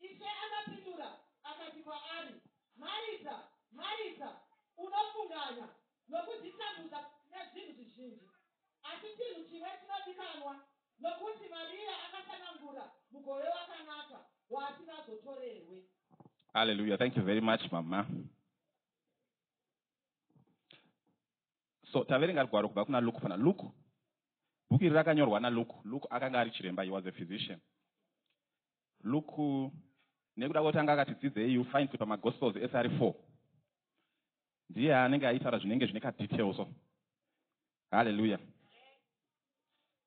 Ishe akapindura akati kwaari, Marita, Marita, unofunganya nokuzvitambudza nezvinhu zvizhinji, asi chinhu chimwe chinodikanwa. Nokuti Mariya akasanangura mugove wakanaka, waasingazotorerwe. Hallelujah. Thank you very much, Mama. So, taverenga gwaro kubva kuna Luke pana Luke. Bhuku iri rakanyorwa naLuke. Luke akanga ari chiremba, he was a physician. Luke nekuda kwekuti anga akati dzidzei you find kuti pamagospels ese ari four ndiye anenge aitaura zvinenge zvine kadetail so haleluya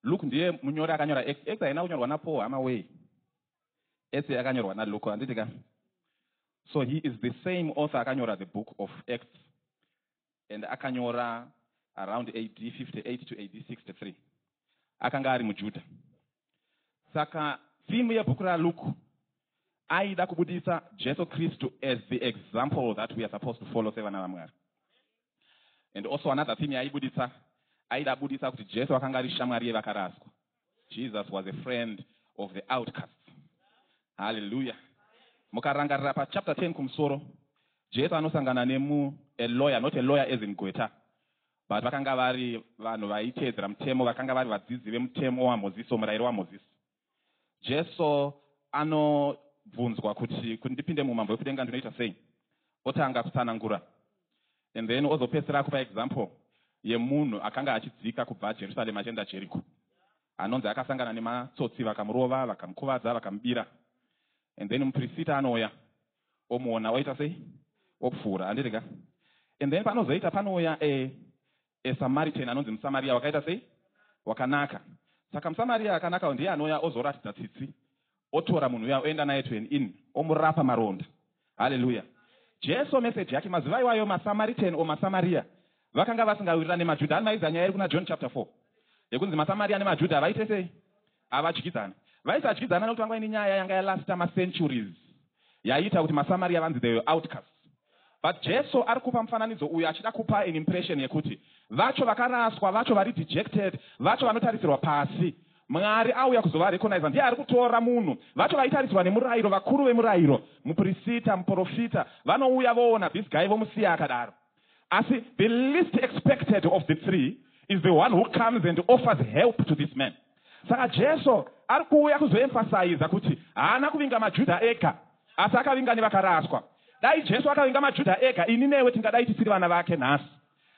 luke ndiye munyori akanyora x x haina kunyorwa napaul hama wei ese yakanyorwa naluke handiti ka so he is the same author akanyora the book of x and akanyora around AD 58 to AD 63 akanga ari muJudha. Saka theme yebhuku raLuke aida kubudisa Jesu Kristu as the example that we are supposed to follow sevana vaMwari. And also another theme yaibudisa aida budisa kuti Jesu akanga ari shamwari yevakaraswa. jesus was a friend of the outcasts halleluya mukarangarira pachapter 10 kumusoro jesu anosangana nemu a lawyer not a lawyer as in gweta but vakanga vari vanhu vaiteedzera mutemo vakanga vari vadzidzi vemutemo wamozisi womurayiro wamozisi jesu anobvunzwa kuti kuti ndipinde muumambo hwekudenga ndinoita sei otanga kutsanangura And then ozopedzisira akupa example yemunhu akanga achidzika kubva Jerusalem achienda Jericho. Anonzi akasangana nematsotsi vakamurova, vakamukuvadza, vakamubira. And then mupirisita anouya omuona oita sei? Opfuura, handiti ka? And then panozoita panouya a, a Samaritan anonzi muSamaria wakaita sei? Wakanaka. Saka muSamaria akanaka ndiye anouya ozoratidza tsitsi otora munhu uya oenda naye to an inn omurapa maronda haleluya jesu meseji yake mazuva iwayo masamaritan o masamaria vakanga vasingawirirani nemajudha ani maiziva nyaya iri kuna john chapter 4 yekunzi masamaria nemajudha havaite sei havadyidzani vaisadyidzana nekuti vanga vaine nyaya yanga yalasta macenturies yaiita kuti maSamaria vanzi they were outcasts. But Jesu ari kupa mufananidzo uyu achida kupa an impression yekuti vacho vakaraswa, vacho vari dejected, vacho vanotarisirwa pasi, Mwari auya kuzovarecogniza. Ndiye ari kutora munhu. Vacho vaitarisirwa nemurairo, vakuru vemurairo, muprisita, muporofita, vanouya voona this guy vomusiya akadaro. Asi the least expected of the three is the one who comes and offers help to this man. Saka Jesu ari kuuya kuzoemfasaiza kuti haana kuvinga maJuda ega, asi akavinga nevakaraswa. Dai Jesu akavinga maJuda ega, ini newe tingadai tisiri vana vake nhasi.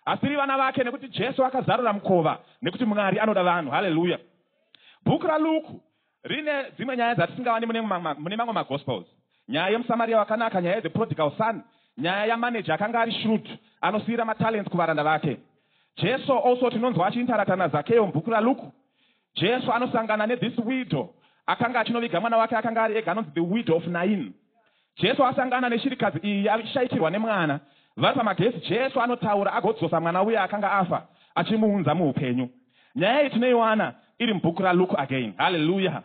Asi tiri vana vake nekuti Jesu akazarura mukova, nekuti Mwari anoda vanhu. Haleluya! Bhuku raLuku Rine dzimwe nyaya dzatisingawani mune mune mamwe magospels. Nyaya yemuSamaria wakanaka, nyaya yethe prodigal son, nyaya yamanager akanga ari shrewd anosiyira matalents kuvaranda vake. Jesu also tinonzwa achiintaracta naZakeo mubhuku raLuke. Jesu anosangana nethis widow akanga achinoviga mwana wake akanga ari ega anonzi the widow of Nain. Jesu asangana neshirikadzi iyi yaishaikirwa nemwana. Vari pamagezi, Jesu anotaura agodzosa mwana uya akanga afa achimuunza muhupenyu. Nyaya iyi tinoiwana iri mubhuku raLuke again. Hallelujah!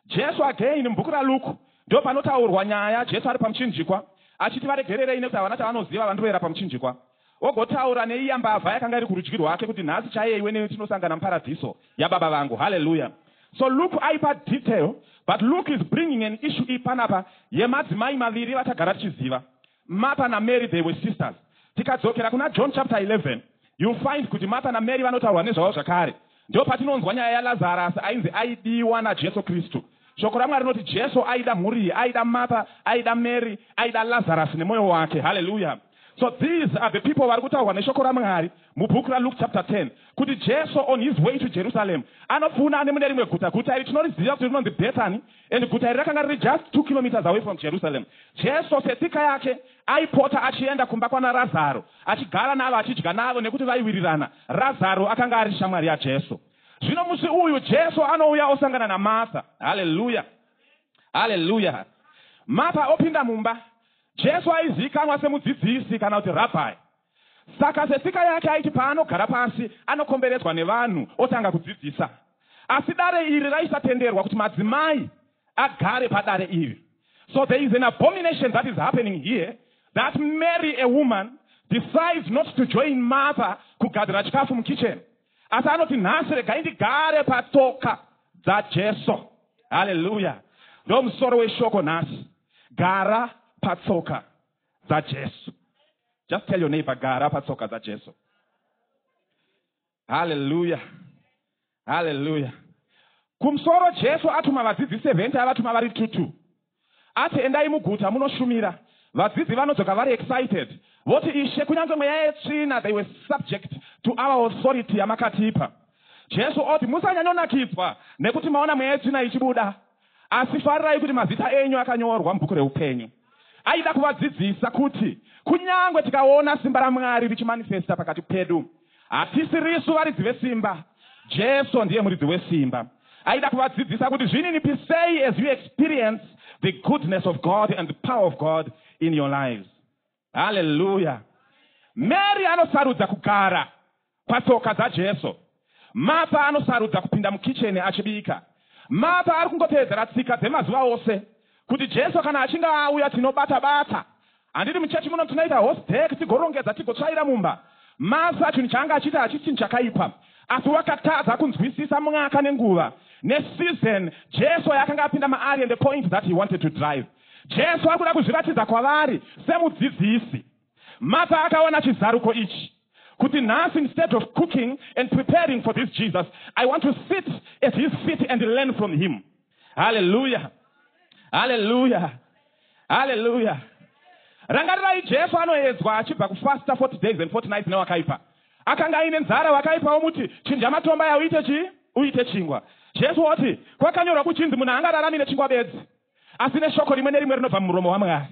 Jesu again mubhuku raLuke ndopanotaurwa nyaya Jesu ari pamuchinjikwa achiti varegererei nekuti havana chavanoziva vandroera pamuchinjikwa. Ogotaura neiya mbavha yakanga iri kurudyi rwake kuti, Nhasi chaiye iwe neni tinosangana muParadhiso yaBaba vangu. Hallelujah! So Luke aipa detail, but Luke is bringing an issue iyi panapa yemadzimai maviri vatagara tichiziva. Martha naMary they were sisters. Tikadzokera kuna John chapter 11, you'll find kuti Martha naMary vanotaurwa nezvavo zvakare. Ndopatinonzwa nyaya yaLazarus ainzi aidiwa naJesu Kristu. Shoko raMwari rinoti Jesu aida mhuri iyi, aida Martha, aida Mary, aida Lazarus nemoyo wake. Hallelujah. So these are the people vari kutaurwa neshoko raMwari mubhuku raLuke chapter 10 kuti Jesu on his way to Jerusalem anopfuuna anemune rimwe guta. Guta iri tinoriziva kuti rinonzi Bethany. And guta iri rakanga riri just two kilometres away from Jerusalem. Jesu setsika yake aipota achienda kumba kwana Razaro achigara navo achidya navo nekuti vaiwirirana. Razaro akanga ari shamwari yaJesu. Zvino musi uyu Jesu anouya osangana naMartha. Hallelujah. Hallelujah. Martha opinda mumba. Jesu aizivikanwa semudzidzisi kana kuti rabbi. Saka setsika yake aiti paanogara pasi anokomberedzwa nevanhu otanga kudzidzisa. Asi dare iri raisatenderwa kuti madzimai agare padare iri. So there is an abomination that is happening here that Mary a woman decides not to join Martha kugadzira chikafu mukitchen asi anoti nhasi regai ndigare patsoka dzaJesu. Hallelujah. Ndomusoro weshoko nhasi. Gara patsoka dzajesu just tell your neighbor gara patsoka dzajesu haleluya haleluya kumusoro jesu atuma vadzidzi 70 avatuma vari tutu ati endai muguta munoshumira vadzidzi vanodzoka vari excited voti ishe kunyange mweya yetsvina they were subject to our authority yamakatipa jesu oti musanyanyonakidzwa nekuti maona mweya yetsvina ichibuda asi farirai kuti mazita enyu akanyorwa mubhuku reupenyu Aida kuvadzidzisa kuti kunyangwe tikaona simba raMwari richimanifesta pakati pedu, hatisirisu varidzi vesimba, Jesu ndiye muridzi wesimba. Aida kuvadzidzisa kuti zvininipisei as you experience the goodness of God and the power of God in your lives. Hallelujah. Mary anosarudza kugara Patsoka dzaJesu, Martha anosarudza kupinda mukicheni achibika. Martha ari kungotevedzera tsika dzemazuva ose kuti Jesu kana achinge auya tinobata bata. Handiti muchechi muno tinoita horse deck tigorongedza tigotsvaira mumba? Martha chinhu chaanga achiita hachisi chinhu chakaipa, asi wakatadza kunzwisisa mwaka nenguva neseason Jesu yaakanga apinda maari and the point that he wanted to drive. Jesu ari kuda kuzviratidza kwavari semudzidzisi. Martha akaona chizaruko ichi kuti nhasi instead of cooking and preparing for this Jesus, I want to sit at his feet and learn from him. Hallelujah. Hallelujah. Hallelujah. Rangarirai Jesu anoedzwa achibva kufasta 40 days and 40 nights newakaipa. Akanga aine nzara wakaipa womuti chinja matomba yauite chi uite chingwa. Jesu oti kwakanyorwa kuchinzi munhu haangararami nechingwa bedzi. asi neshoko rimwe nerimwe rinobva mumuromo waMwari.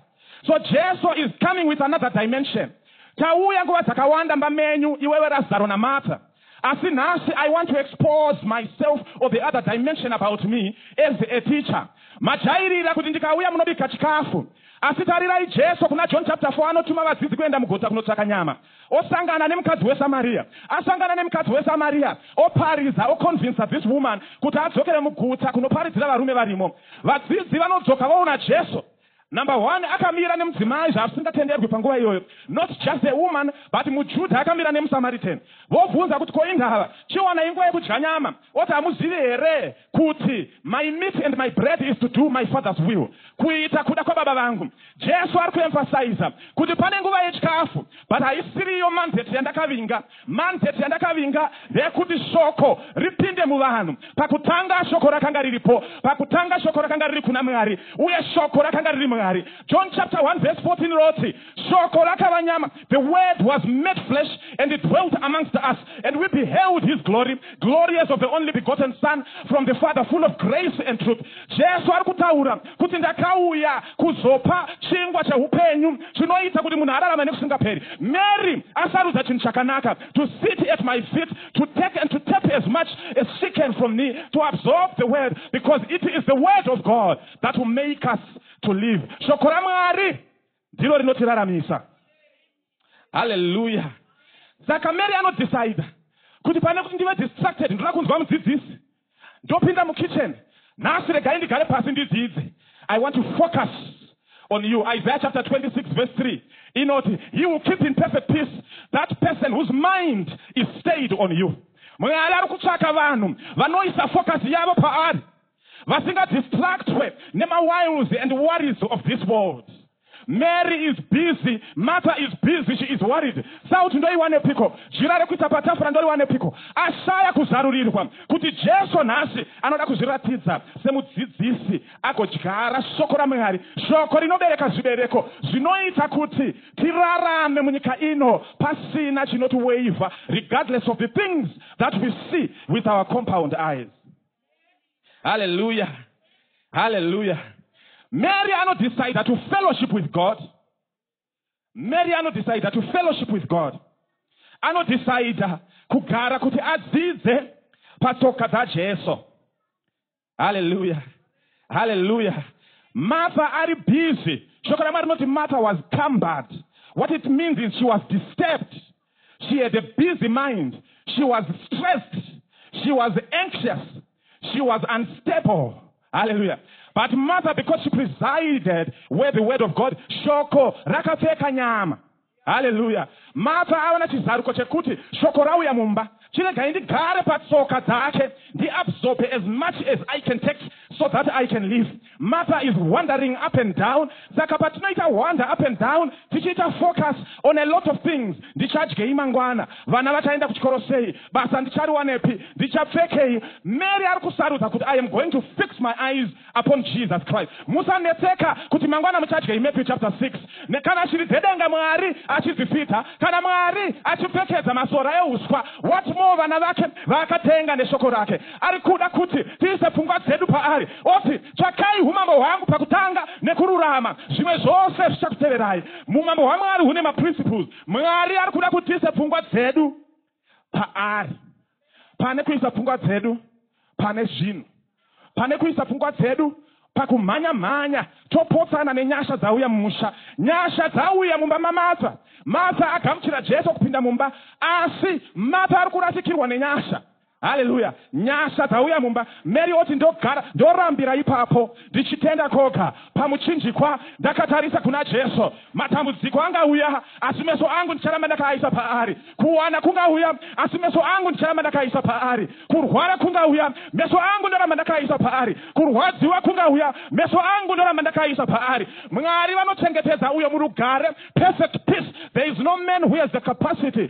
So Jesu is coming with another dimension. Tauya nguva dzakawanda mba menyu iwewe Razaro naMartha. Asi nhasi I want to expose myself or the other dimension about me as a teacher. Majairira kuti ndikauya munobika chikafu. Asi tarirai Jesu kuna John chapter 4 anotuma vadzidzi kuenda mugota kunotsvaka nyama. Osangana nemukadzi weSamaria. Asangana nemukadzi weSamaria, oparidza, oconvincer this woman kuti adzokere mugutsa kunoparidzira varume varimo. Vadzidzi vanodzoka voona Jesu. Number one, akamira nemudzimai zvasingatenderwi panguva iyoyo. Not just a woman, but muJuda akamira nemuSamaritan. Vobvunza kuti, Ko indava, chiwana inguva yekudya nyama? Oti, Hamuzivi here? Kuti, My meat and my bread is to do my Father's will. Kuita kuda kwaBaba vangu. Jesu ari kuemphasiza kuti pane nguva yechikafu, but haisiri iyo mandate yandakavinga. Mandate yandakavinga ndeyekuti shoko ripinde muvanhu. Pakutanga shoko rakanga riripo. Pakutanga shoko rakanga riri kuna Mwari, uye shoko rakanga riri Mwari. John chapter 1 verse 14 roti, Shoko rakava nyama, the word was made flesh and it dwelt amongst us, and we beheld his glory, glory as of the only begotten son from the father, full of grace and truth. Jesu ari kutaura kuti ndakauya kuzopa chingwa cheupenyu chinoita kuti munhu ararame nekusingaperi. Mary asarudza chinhu chakanaka, to sit at my feet, to take and to tap as much as she can from me, to absorb the word, because it is the word of God that will make us to live. Shoko ramwari ndiro rinotiraramisa haleluya saka mary anodhisaida kuti pane kuti ndive distracted ndoda kunzwa mudzidzisi ndopinda mukitchen nhasi regai ndigare pasi ndidzidze i want to focus on you isaiah chapter 26 verse 3 inoti he will keep in perfect peace that person whose mind is stayed on you mwari ari kutsvaka vanhu vanoisa focus yavo paari Vasinga distractwe nema wiles and worries of this world. Mary is busy, Martha is busy, she is worried. Salt ndoiwanepiko? Jira rekuisa patafura ndoriwanepiko? Ashaya kuzarurirwa kuti Jesu nhasi anoda kuzviratidza semudzidzisi agodyara shoko raMwari, shoko rinobereka zvibereko zvinoita kuti tirarame munyika ino pasina chinotiweivha regardless of the things that we see with our compound eyes. haleluya haleluya mary anodecide to fellowship with god mary anodecide to fellowship with god anodecide kugara kuti adzidze patsoka dzajesu haleluya haleluya martha ari busy shoko ramwari rinoti martha was cumbered what it means is she was disturbed She had a busy mind. She was stressed. She was anxious. She was unstable. Hallelujah. But Martha, because she presided where the word of God, shoko rakapfeka nyama. Hallelujah. Martha ava nechizaruko chekuti shoko rauya mumba chiregai ndigare patsoka dzake ndiabsorbe as much as i can take so that i can live Matter is wandering up and down saka patinoita wander up and down tichiita focus on a lot of things, ndichadyei mangwana, vana vachaenda kuchikoro sei, basa ndichariwanepi, ndichapfekei, Mary ari kusarudza kuti I am going to fix my eyes upon Jesus Christ. Musanetseka kuti mangwana muchadyei Matthew chapter 6 ne kana shiri dzedenga Mwari achidzifidza, kana Mwari achipfekedza masora ehuswa what more vana vake vaakatenga neshoko rake. Ari kuda kuti tiise pfungwa dzedu paari, oti, Tsvakai umambo hwangu pakutanga nekururama, zvimwe zvose zvichakuteverai. Umambo hwaMwari hune maprinciples. Mwari ari kuda kuti tiise pfungwa dzedu paari pane kuisa pfungwa dzedu pane zvinhu, pane kuisa pfungwa dzedu pakumhanya mhanya topotsana nenyasha dzauya mumusha. Nyasha dzauya mumba maMatha. Matha agamuchira Jesu kupinda mumba, asi Matha ari kurasikirwa nenyasha. Hallelujah. Nyasha dzauya mumba. Mary oti ndogara ndorambira ipapo ndichitenda koga. Pamuchinjikwa ndakatarisa kuna Jesu. Matambudziko angauya asi meso angu ndicharamba ndakaaisa paari. Kuwana kungauya asi meso angu ndicharamba ndakaaisa paari. Kurwara kungauya meso angu ndoramba ndakaaisa paari. Kurwadziwa kungauya meso angu ndoramba ndakaaisa paari. Mwari vanochengetedza uyo murugare, perfect peace. There is no man who has the capacity.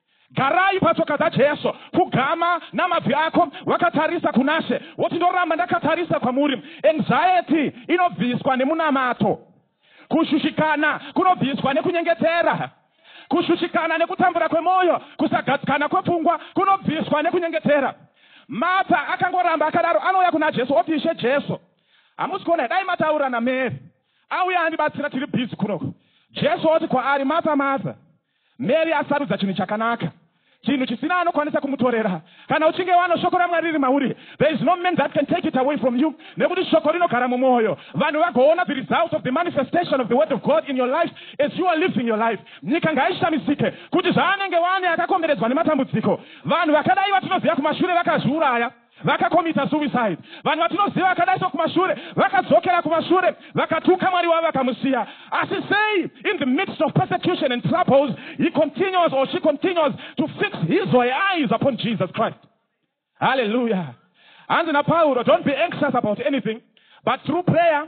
Garai patsoka dzaJesu, pfugama namabvi ako wakatarisa kunaShe, woti, Ndoramba ndakatarisa kwaMuri. Anxiety inobviswa nemunamato. Kushushikana kunobviswa nekunyengetera. Kushushikana nekutambura kwemoyo, kusagadzikana kwepfungwa kunobviswa nekunyengetera. Martha akangoramba akadaro, anouya kunaJesu oti, Ishe Jesu, hamusi kuona here? Dai mataura naMary, auya andibatsira, tiri busy kunoku. Jesu oti kwaari, Martha, Martha. Mary asarudza chinhu chakanaka, chinhu chisina anokwanisa kumutorera. Kana uchinge wano shoko raMwari riri mauri, there is no man that can take it away from you, nekuti shoko rinogara mumwoyo. Vanhu vagoona the results of the manifestation of the word of God in your life as you are living your life. Nyika ngaishamisike kuti zvaanenge wane akakomberedzwa nematambudziko. Vanhu vakadai vatinoziva kumashure vakazviuraya. Vakacommita suicide. Vanhu vatinoziva vakadai soKumashure vakadzokera kumashure, vakatuka Mwari wavo vakamusiya. Asi sei in the midst of persecution and troubles he continues or she continues to fix his or her eyes upon Jesus Christ? Hallelujah. Hanzi naPauro, don't be anxious about anything, but through prayer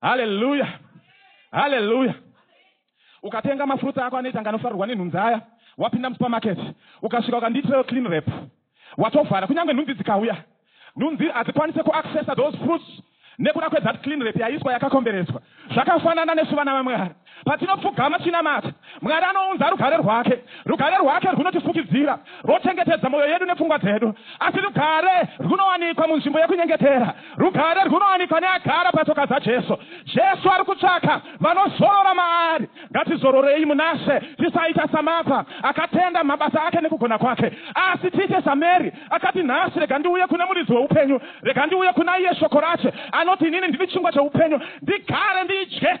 haleluya haleluya ukatenga mafruits ako anoita anga anofarirwa nenhunzi aya wapinda musupermarket ukasvika ukandiitirawo clean rap watovhara kunyange nhunzi dzikauya nhunzi hadzikwanise kuaccessa those fruits nekuda kwethat clean rap yaiswa yakakomberedzwa zvakafanana nesu vana vamwari Patinopfugama tichinamata, Mwari anounza rugare rwake. Rugare rwake rwunotifukidzira, rwochengetedza mwoyo yedu nepfungwa dzedu. Asi rugare rwunowanikwa munzvimbo yekunyengetera. Rugare rwunowanikwa neagara patsoka dzaJesu. Jesu ari kutsvaka vanozorora maari. Ngatizororei munaShe, tisaita saMartha, akatenda mumabasa ake nekugona kwake, asi tiite saMary, akati, Nhasi rega ndiuye kune Muridzi weupenyu. Rega ndiuye kunaiye Shoko raShe, anoti, Inini ndiri chingwa cheupenyu. Ndigare ndidye.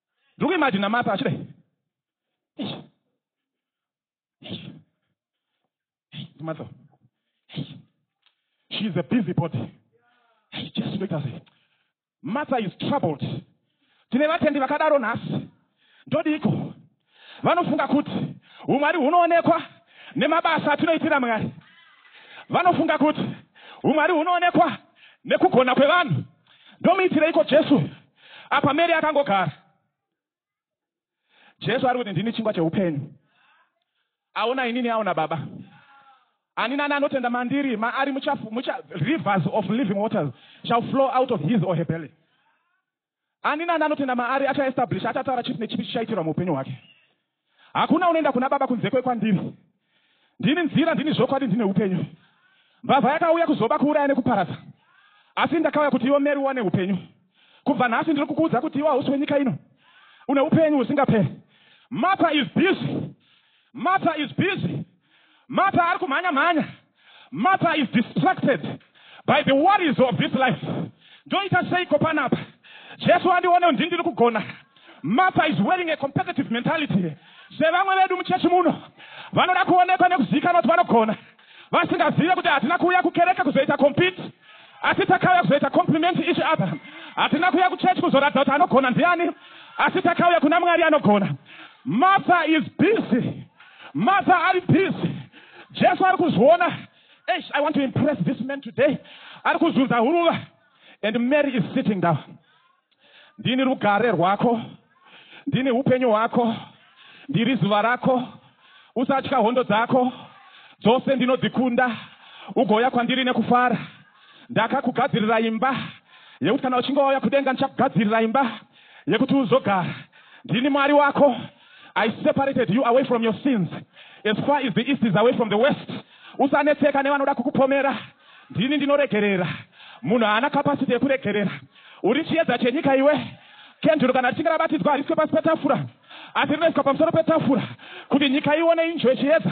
ndiri kuimajina mapa achidai matso she is a busy body jesu ndoita sei matsa is troubled tine vatendi vakadaro nhasi ndodiiko vanofunga kuti umwari hunoonekwa nemabasa atinoitira mwari vanofunga kuti umwari hunoonekwa nekugona kwevanhu ndomuitireiko jesu Apa Mary akangogara. Jesu ari kuti ndini chingwa cheupenyu. Aona inini aona Baba. Ani nani anotenda mandiri maari mucha, mucha rivers of living waters shall flow out of his or her belly. Ani nani anotenda maari achaestablish achataura chipi nechipi chichaitirwa muupenyu hwake. Hakuna unoenda kuna Baba kunze kwekwandiri. Ndini nzira, ndini zvokwadi, ndine upenyu. Mbavha yakauya kuzoba, kuuraya nekuparadza, asi ndakauya kuti iwe Mary uwane upenyu. Kubva nhasi ndiri kukuudza kuti iwe hausi wenyika ino. Une upenyu husingaperi. Martha is busy. Martha is busy. Mapa ari kumhanya mhanya. Mapa is distracted by the worries of this life. Ndoita seiko panapa? Jesu andione ndi ndiri kugona. Mapa is wearing a competitive mentality. Sevamwe vedu muchechi muno vanoda kuonekwa nekuzivikanwa kuti vanogona vasingazive kuti hatina kuuya kukereke kuzoita compete asi takauya kuzoita compliment each other hatina kuuya kuchechi kuzoratidza kuti anogona ndiani asi takauya kuna mwari anogona mother is busy Martha ari busy. Jesu ari kuzviona. Eish, I want to impress this man today. Ari kuzunza huruva. And Mary is sitting down. Ndini rugare rwako. Ndini hupenyu hwako. Ndiri zuva rako. Usatya hondo dzako. Dzose ndinodzikunda. Ugouya kwandiri nekufara. Ndakakugadzirira imba. Yekuti kana uchinge wauya kudenga ndichakugadzirira imba. Yekuti uzogara. Ndini Mwari wako. I separated you away from your sins as far as the east is away from the west. Usanetseka nevanoda kukupomera. Ndini ndinoregerera. Munhu haana capacity yekuregerera. Uri chiedza chenyika iwe. Kenduru kana richinge rabatidzwa hariswe pasi petafura asi rinoiswa pamusoro petafura kuti nyika ione injwe chiedza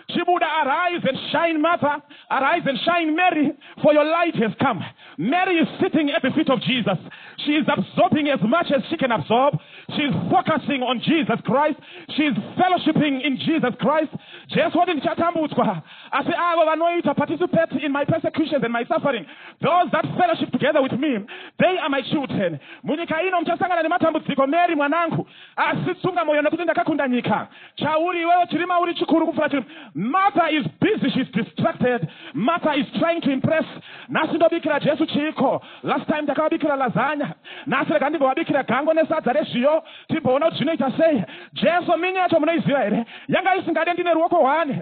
Chibuda arise and shine Martha arise and shine Mary for your light has come Mary is sitting at the feet of Jesus she is absorbing as much as she can absorb she is focusing on Jesus Christ she is fellowshipping in Jesus Christ Jesu wati ndichatambudzwa asi avo vanoita participate in my persecutions and my suffering those that fellowship together with me they are my children munyika ino muchasangana nematambudziko Mary mwanangu asi tsunga moyo nekuti ndakakunda nyika Chauri iwewe chirima uri chikuru kupfura chirima. Martha is busy she's distracted. Martha is trying to impress. Nhasi ndobikira Jesu chiiko? Last time ndakavabikira lasagna. Nhasi rega ndimbovabikira gango nesadza rezviyo timboona kuti zvinoita sei. Jesu mini yacho munoiziva here? Yanga isingade ndine ruoko one.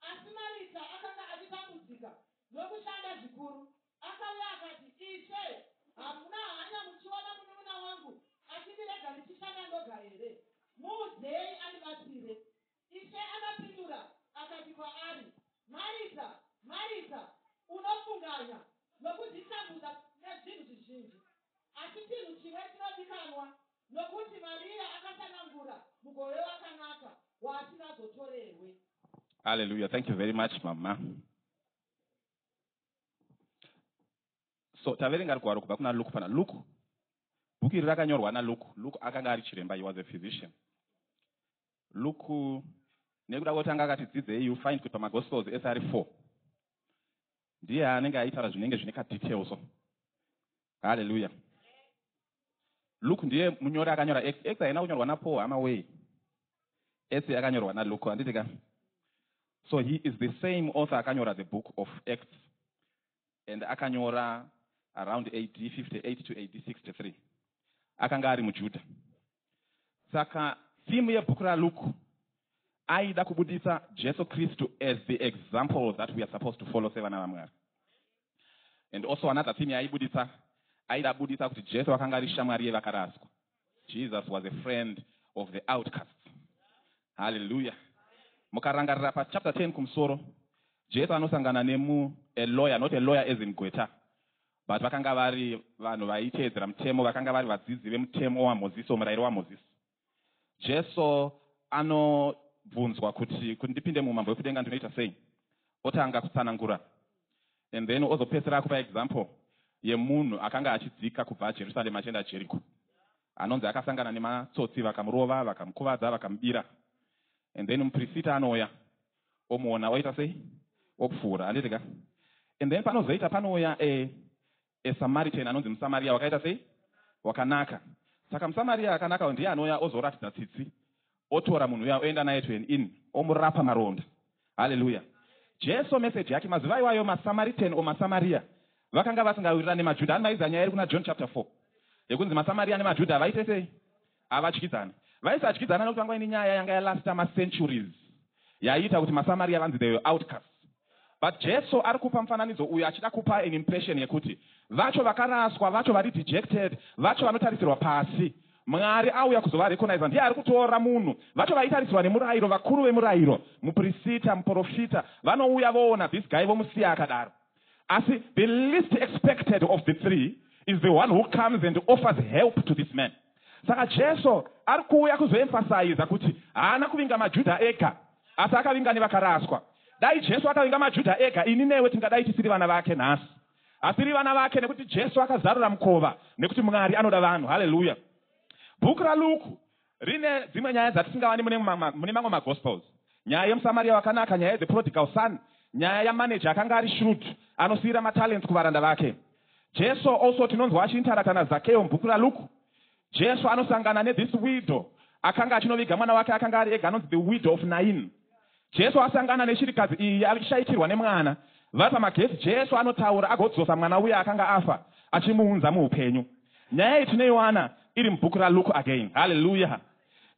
Asi Marita akanga achitambudzika nokushanda zvikuru. Akauya akati, Ishe, hamuna hanya muchiona munun'una wangu achindirega ndichishanda ndoga here? Muudzei andibatsire. Ishe akapindura akati kwaari, Marita, Marita, unofunganya nokuzvitambudza nezvinhu zvizhinji. Asi chinhu chimwe chinodikanwa Nokuti Maria akasanangura mugove wakanaka waasingazotorerwe. Hallelujah thank you very much mama. So taverenga rugwaro kubva kuna Luke pana Luke. Bhuku iri rakanyorwa na Luke. Luke akanga ari chiremba, he was a physician. Luke nekuda kwekuti anga akati dzidzei you find kuti pamagospels ese ari four ndiye anenge aitaura zvinenge zvine kadetail so haleluya luke ndiye munyori akanyora x x haina kunyorwa napaul hama wei ese yakanyorwa naluke handiti ka so he is the same author akanyora the book of x and akanyora around ad 58 to ad 63 akanga ari mujudha Saka theme yebhuku raLuke aida kubuditsa Jesu Kristu as the example that we are supposed to follow sevana vaMwari. And also another theme yaibuditsa aida buditsa kuti Jesu akanga ari shamwari yevakaraswa. Jesus was a friend of the outcasts. Hallelujah. Mukarangarira pa chapter 10 kumusoro, Jesu anosangana nemu a lawyer, not a lawyer as in gweta, But vakanga vari vanhu vaiteedzera mutemo, vakanga vari vadzidzi vemutemo waMozisi, womurayiro waMozisi. Jesu anobvunzwa kuti, kuti ndipinde muumambo hwekudenga ndinoita sei? Otanga kutsanangura and then ozopedzisira akupa example yemunhu akanga achidzika kubva Jerusalem achienda Jeriko. Anonzi akasangana nematsotsi vakamurova, vakamukuvadza, vakamubira. And then mupirisita anouya omuona oita sei opfuura handiti ka and then panozoita panouya a, a samaritan anonzi musamariya wakaita sei wakanaka saka musamariya akanaka ndiye anouya ozoratidza tsitsi otora munhu uya oenda naye to an in omurapa maronda haleluya jesu meseji yake mazuva iwayo masamaritan o masamariya vakanga vasingawirirani nemajudha ani maiziva nyaya iri kuna john chapter 4 yekunzi masamariya nemajudha vaite sei Havatyidzani. Vaisatyidzana nokuti vanga vaine nyaya yanga yalasta macenturies yaiita kuti maSamaria vanzi they were outcasts. But Jesu ari kupa mufananidzo uyu achida kupa an impression yekuti vacho vakaraswa, vacho vari dejected, vacho vanotarisirwa pasi, Mwari auya kuzovarecogniza. Ndiye ari kutora munhu. Vacho vaitarisirwa nemurairo, vakuru vemurairo, muprisita, muporofita, vanouya voona this guy vomusiya akadaro. Asi the least expected of the three is the one who comes and offers help to this man. Saka Jesu ari kuuya kuzoemfasaiza kuti haana kuvinga maJudha ega, asi akavinga nevakaraswa. Dai Jesu akavinga maJudha ega, ini newe tingadai tisiri vana vake nhasi. Hatiri vana vake nekuti Jesu akazarura mukova, nekuti Mwari anoda vanhu. Haleluya! Bhuku raLuku Rine dzimwe nyaya dzatisingawani mune mune mamwe magospels. Nyaya yemuSamaria wakanaka, nyaya yethe prodigal son, nyaya yamanager akanga ari shrewd anosiyira matalents kuvaranda vake. Jesu also tinonzwa achiintaracta naZakeo mubhuku raLuke. Jesu anosangana nethis widow akanga achinoviga mwana wake akanga ari ega anonzi the widow of Nain. Jesu asangana neshirikadzi iyi ari kushaikirwa nemwana. Vari pamagedhi, Jesu anotaura agodzosa mwana uya akanga afa achimuunza muupenyu. Nyaya iyi tinoiwana iri mubhuku raLuke again. Hallelujah!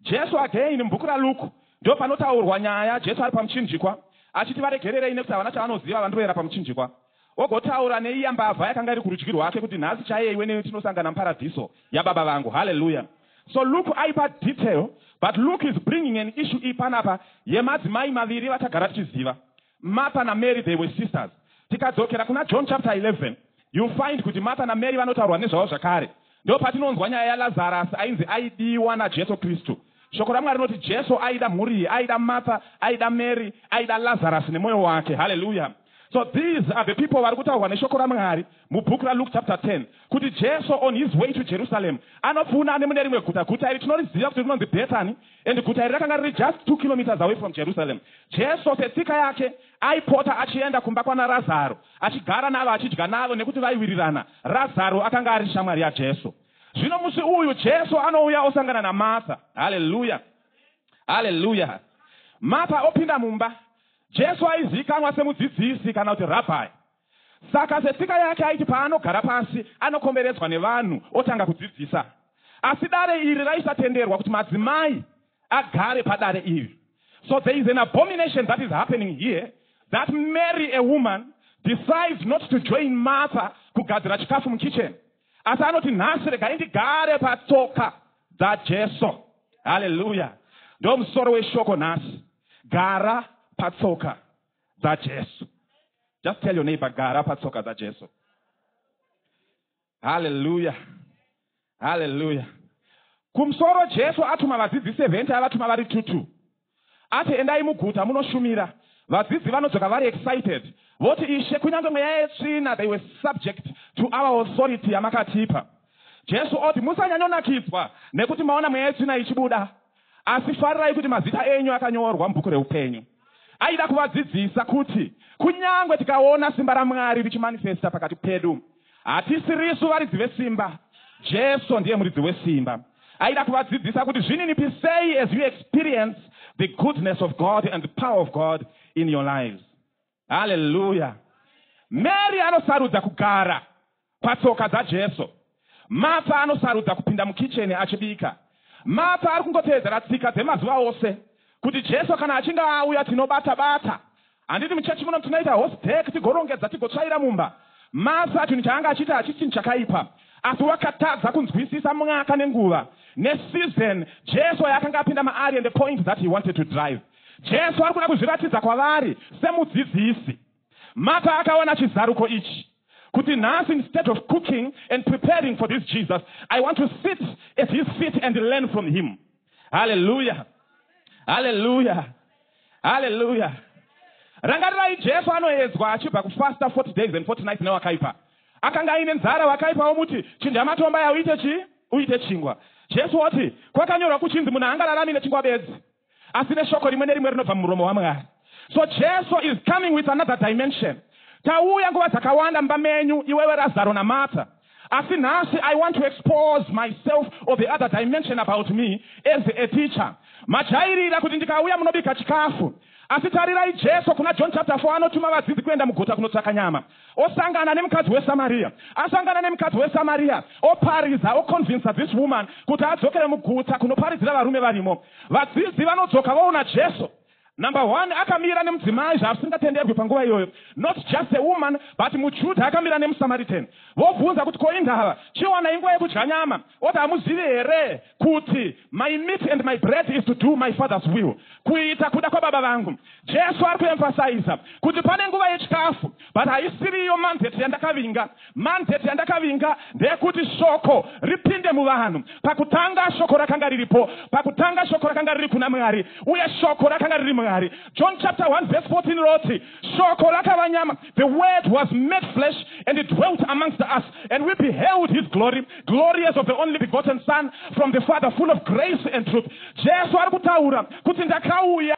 Jesu again mubhuku raLuke ndopanotaurwa nyaya Jesu ari pamuchinjikwa achiti varegererei nekuti havana chavanoziva vandroera pamuchinjikwa. Ogotaura neiya mbavha yakanga iri kurudyi rwake, kuti, Nhasi chaiye iwe neni tinosangana muParadhiso yaBaba vangu. Hallelujah! So Luke aipa detail, but Luke is bringing an issue iyi panapa yemadzimai maviri vatagara tichiziva. Martha naMary they were sisters. Tikadzokera kuna John chapter 11, you'll find kuti Martha naMary vanotaurwa nezvavo zvakare. Ndopatinonzwa nyaya yaLazarus ainzi aidiwa naJesu Kristu. Shoko raMwari rinoti Jesu aida mhuri iyi, aida Martha, aida Mary, aida Lazarus nemoyo wake. Hallelujah. So these are the people vari kutaurwa neshoko raMwari mubook raLuke chapter 10 kuti Jesu on his way to Jerusalem anopfuuna anemude rimwe guta. Guta iri tinoriziva kuti rinonzi Bethany and guta iri rakanga riri just two kilometres away from Jerusalem. Jesu setsika yake Aipota achienda kumba kwana Razaro achigara navo achidya navo nekuti vaiwirirana. Razaro akanga ari shamwari yaJesu. Zvino musi uyu Jesu anouya osangana naMartha. Haleluya! Haleluya! Martha opinda mumba. Jesu aizivikanwa semudzidzisi kana kuti rabhi. Saka setsika yake aiti paanogara pasi anokomberedzwa nevanhu otanga kudzidzisa. Asi dare iri raisatenderwa kuti madzimai agare padare iri. So there is an abomination that is happening here that Mary a woman decides not to join Martha kugadzira chikafu mukitchen asi anoti nhasi regai ndigare patsoka dzaJesu. Hallelujah. Ndomusoro weshoko nhasi. Gara patsoka dzajesu just tell your neighbor gara patsoka dzajesu haleluya haleluya kumusoro jesu atuma vadzidzi 70 avatuma vari tutu ati endai muguta munoshumira vadzidzi vanodzoka vari excited voti ishe kunyange mweya yetsvina they were subject to our authority yamakatipa jesu oti musanyanyonakidzwa nekuti maona mweya yetsvina ichibuda Asi farirai kuti mazita enyu akanyorwa mubhuku reupenyu. Aida kuvadzidzisa kuti kunyange tikaona simba raMwari richimanifesta pakati pedu, hatisi risu varidzi vesimba, Jesu ndiye muridzi wesimba. Aida kuvadzidzisa kuti zvininipisei as you experience the goodness of God and the power of God in your lives. haleluya mary anosarudza kugara patsoka dzajesu matha anosarudza kupinda mukicheni achibika matha ari kungoteedzera tsika dzemazuva ose kuti jesu kana achinge auya tinobata bata handiti muchechi muno tinoita host dek tigorongedza tigotsvaira mumba matha chinhu chaanga achiita hachisi chinhu chakaipa asi wakatadza kunzwisisa mwaka nenguva nesizon jesu yaakanga apinda maari and the point that he wanted to drive Jesu ari kuda kuzviratidza kwavari semudzidzisi. Martha akawana chizaruko ichi, kuti nhasi instead of cooking and preparing for this Jesus, I want to sit at his feet and learn from him. Haleluya! Haleluya! Haleluya! Rangarirai Jesu anoedzwa achibva kufasta 40 days and 40 nights newakaipa. Akanga aine nzara, wakaipa womuti, chinja matomba aya uite chii? Uite chingwa. Jesu oti, kwakanyorwa kuchinzi munhu haangararami nechingwa bedzi. asi neshoko rimwe nerimwe rinobva mumuromo waMwari. So Jesu is coming with another dimension. Tauya nguva dzakawanda mumba menyu, iwewe Razaro naMartha. Asi nhasi I want to expose myself or the other dimension about me as a teacher. Majairira kuti ndikauya munobika chikafu. Asi tarirai Jesu kuna John chapter 4 anotuma vadzidzi kuenda muguta kunotsvaka nyama. Osangana nemukadzi weSamaria. Asangana nemukadzi weSamaria, oparidza, oconvincer this woman kuti adzokere mugutsa kunoparidzira varume varimo. Vadzidzi vanodzoka voona Jesu. Number one, akamira nemudzimai zvasingatenderwi panguva iyoyo. Not just a woman, but muJuda akamira nemuSamaritan. Vobvunza kuti ko indava, chiwana inguva yekudya nyama. Oti hamuzivi here kuti my meat and my bread is to do my father's will, kuita kuda kwababa vangu. Jesu ari kuemphasiza kuti pane nguva yechikafu but haisiri iyo mandate yandakavinga. Mandate yandakavinga ndeyekuti shoko ripinde muvanhu. Pakutanga shoko rakanga riripo, pakutanga shoko rakanga riri kuna Mwari uye shoko rakanga riri Mwari. John chapter 1 verse 14 rinoti shoko rakava nyama, the word was made flesh and it dwelt amongst us and we beheld his glory, glory as of the only begotten son from the Father full of grace and truth. Jesu ari kutaura kuti ndakauya